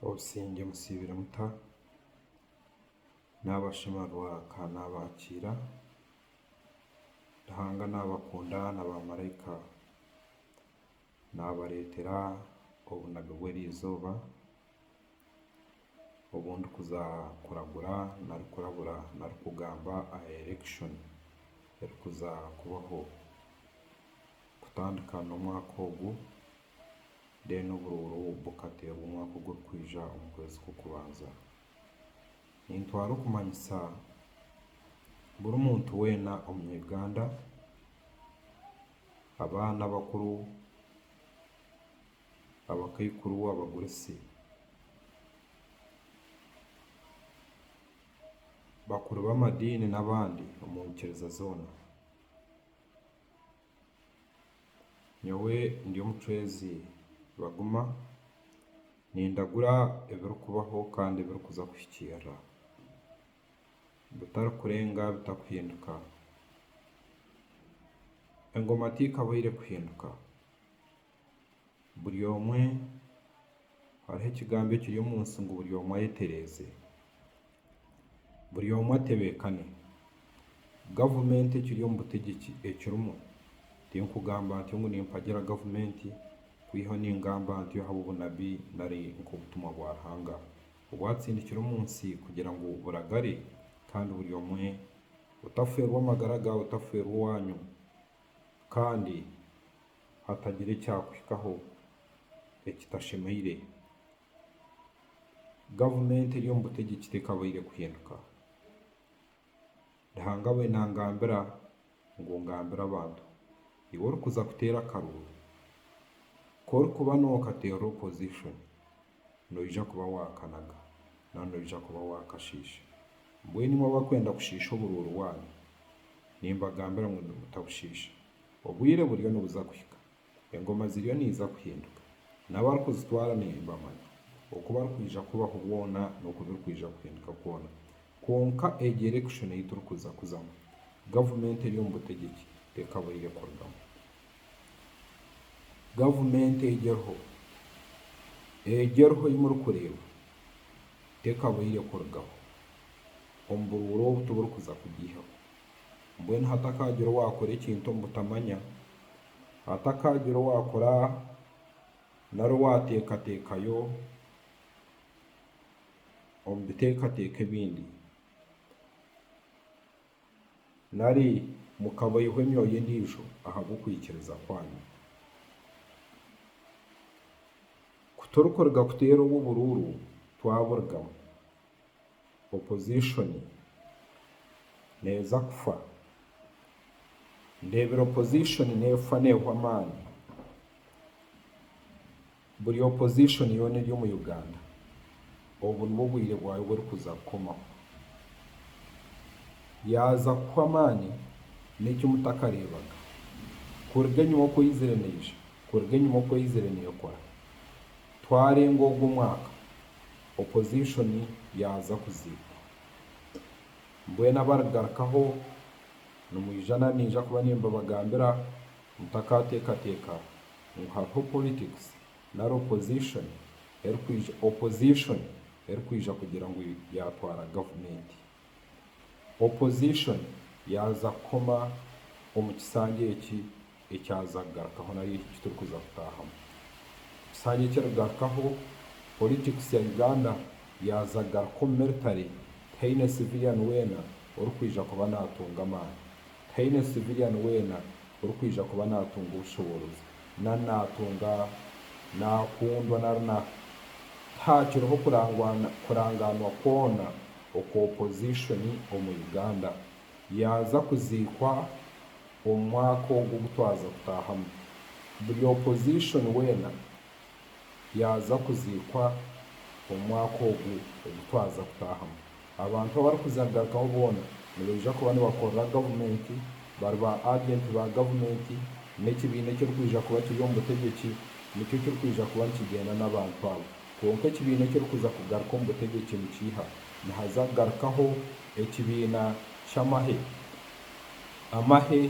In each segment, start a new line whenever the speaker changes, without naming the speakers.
Obusingye musiibire muta? Naabashima rwaka naabakiira, Ruhanga naabakunda na baamaraika naabareetera obunabi bw'eriizooba, obu ndikuza kuragura nari kurabura nari kugamba aha erection erikuza kubaho kutandika n'omwaka ogu then oburuuru bukateerwa omwaka ogurikwija omu kwezi kw'okubanza. Nintwara okumanyisa buri muntu weena omu Uganda, abaana abakuru. abakaikuru abaguritse bakuru b'amadiini n'abandi omu nyikiriza zoona. Nyowe ndi omucwezi baguma nindagura ebirikubaho kandi ebirikuza kuhikiirira bitarikurenga bitakuhinduka. Engoma teikabaire kuhinduka. Buri omwe, hariho ekigambo ekiri omu nsi ngu buri omwe ayetereeze. Buri omwe atebeekane. Gavumenti ekiri omu butegyeki ekirimu, tinkugamba ntyo ngu nimpagira gavumenti, kwihaho ningamba ntyo ahabw'obunabi nari nk'obutumwa bwa Ruhanga obwatsindikire omu nsi kugira ngu buragare kandi buri omwe otafeerwa amagara gaawe, otafeerwa owaanyu kandi hatagira ekyakuhikaho ekitashemeire, gavumenti eri omu butegyeki tekabaire kuhinduka. Ruhanga abaire nangambira ngu ngambira abantu, iwe orikuza kuteera akaruuru, ku orikuba nokateerera opposition, noija kuba waakanaga, nari noija kuba waakashiisha. Mbwenu imwe abarikwenda kushiisha oburuuru waanyu, nimbagambira ngu nimutabushiisha. Obwire buriyo nibuza kuhika, engoma ziriyo niiza kuhinduka, n'abarikuzitwara nimbamanya. Oku barikwija kubaho bwona n'oku birikwija kuhinduka kwona. Kwonka egi erekishoni ei turikuza kuzamu, gavumenti eri omu butegyeki tekabaire kurugamu. Gavumenti egi eriho, egi eriho ei murikureeba tekabaire kurugaho. Omu buruura obu tiburikuza kugiihaho. Mbwenu hatakaagira owaakora ekintu omu butamanya, hatakaagira owaakora nari owaateekateekayo omu biteekateeko ebindi. Nari mukaboihwa emyoyo endiijo ahabw'okwikiriza kwanyu? Ku torikuruga kuteera obu oburuuru twaburugamu, opozishoni neeza kufa. Ndeebire opozishoni neefa neehwa amaani. Buri opposition yoona eri omu Uganda obu nibwo bwire bwayo burikuza kukomaho. Yaaza kuhwa amaani n'eki mutakareebaga. Kuruga enyima oku eizire neija, kuruga enyima oku eizire neekora. Twarenga ogwo omwaka, opposition yaaza kuziikwa. Mbwenu abarigarukaho nimwija nari niija kuba nimbabagambira mutakaateekateeka ngu hariho politics nari opposition erikwija opposition erikwija kugira ngu yatwara gavumenti. Opposition yaaza kukoma omu kisanja eki ekyaza kugarukaho nari eki ekiturikuza kutaahamu. Ekisanja eki erigarukaho politics ya Uganda yaaza kugaruka omu military tihaine civilian weena orikwija kuba naatunga amaani. Tihaine civilian weena orikwija kuba naatunga obushoboorozi, nari naatunga, naakundwa nari na. Tihaakiriho kurangwa kurangaanwa kwona okwa opozishoni omu Uganda. Yaaza kuziikwa omu mwaka ogu ogu twaza kutaahamu, buri opozishoni weena yaaza kuziikwa omu mwaka ogu ogu twaza kutaahamu. Abantu abarikuza kugarukaho boona nibaija kuba nibakorera gavumenti, bari ba agenti ba gavumenti, n'ekibiina ekirikwija kuba kiri omu butegyeki nikyo kirikwija kuba nikigyenda n'abantu abo. Kwonka ekibiina ekirikuza kugaruka omu butegyeki nikiiha? Nihaza kugarukaho ekibiina ky'amahe. Amahe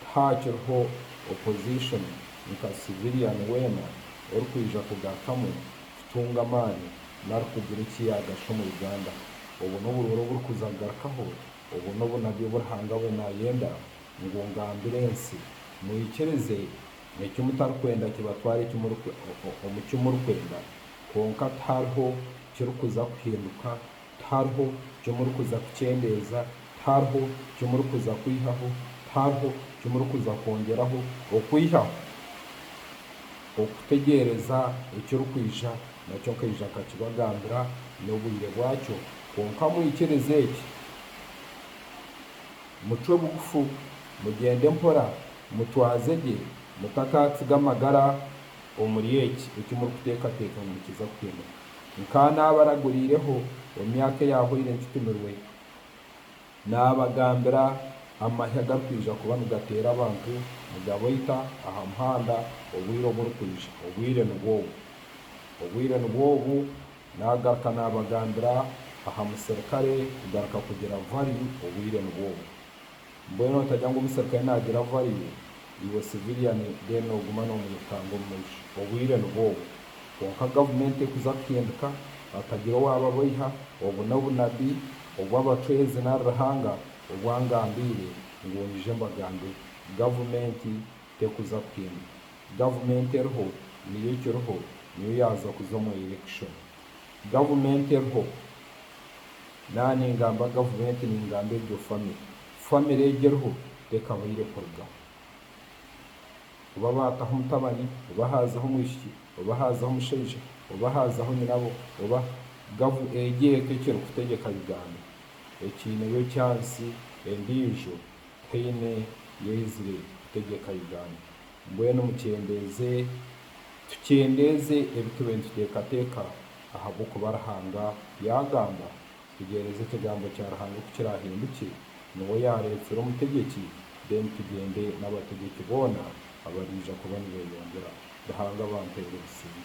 Tihaakiriho opposition nka civilian weena orikwija kugarukamu kutunga amaani nari kugira eki yaagasha omu Uganda. Obwo n'oburoori oburikuza kugarukaho, obwo n'obunabi obu Ruhanga we naayenda ngu ngambire ensi. Mwikirize, eki mutarikwenda kibatware omu ki murikwenda, kwonka tihariho kirikuza kuhinduka Tihariho ki murikuza kukyendeeza, tihariho ki murikuza kwihaho, tihariho ki murikuza kwongyeraho okwihaho okutegyereza ekirikwija, nakyo nkaija nkakibagambira n'obwire bwakyo. Kwonka mwikirize eki, mucwe bugufu, mugyende mpora, mutwaze gye, mutakaatsiga magara omuri eki, eki murikuteekateeka ngu nikiza kutemurwa. nk'anaabaraguriireho emyaka eyahwaire nkitumirwe, naabagambira amahe agarikwija kuba nigateera abantu nigabaita aha muhanda obwire oburikwija. Obwire nibwo obu. Obwire nibwo obu. Naagaruka naabagambira aha muserikare kugaruka kugira value, obwire nibwo obu. Mbwenu otarya ngu omuserukare naagira abu bariyo, iwe civilian then nooguma noomwirukanga omu maisho. Obwire nibwo obwo. Kwonka gavumenti ekuza kuhindika, hatagira owaaba abaiha, obu n'obunabi obw'abacwezi nari Ruhanga obu angambiire ngu nyije mbagambe. Gavumenti tekuza kuhindika. Gavumenti eriho, niyo ekiriho, niyo yaaza kuza omu elekishoni. Gavumenti eriho, naba ningamba gavumenti ningamba egyo famire, famire egyo eriho tekabaire kurugaho. Kuba baataho omutabani oba haazaho omwishiki oba haazaho omushaija oba haazaho nyinabo oba, gavu egyo eka ekirikutegyeka Uganda ekiineyo ekyansi endiijo teine y'eizire kutegyeka Uganda. Mbwenu mukyendeeze, tukyendeeze ebi tube nituteekateeka, ahabw'okuba Ruhanga yaagamba, Tugyereeze ekigambo kya Ruhanga ku kiraahinduke, niwe yaareetsire omutegyeki, then tugyende n'abategyeki boona abariija kuba nibeyongyera. Ruhanga abampeere obusinge.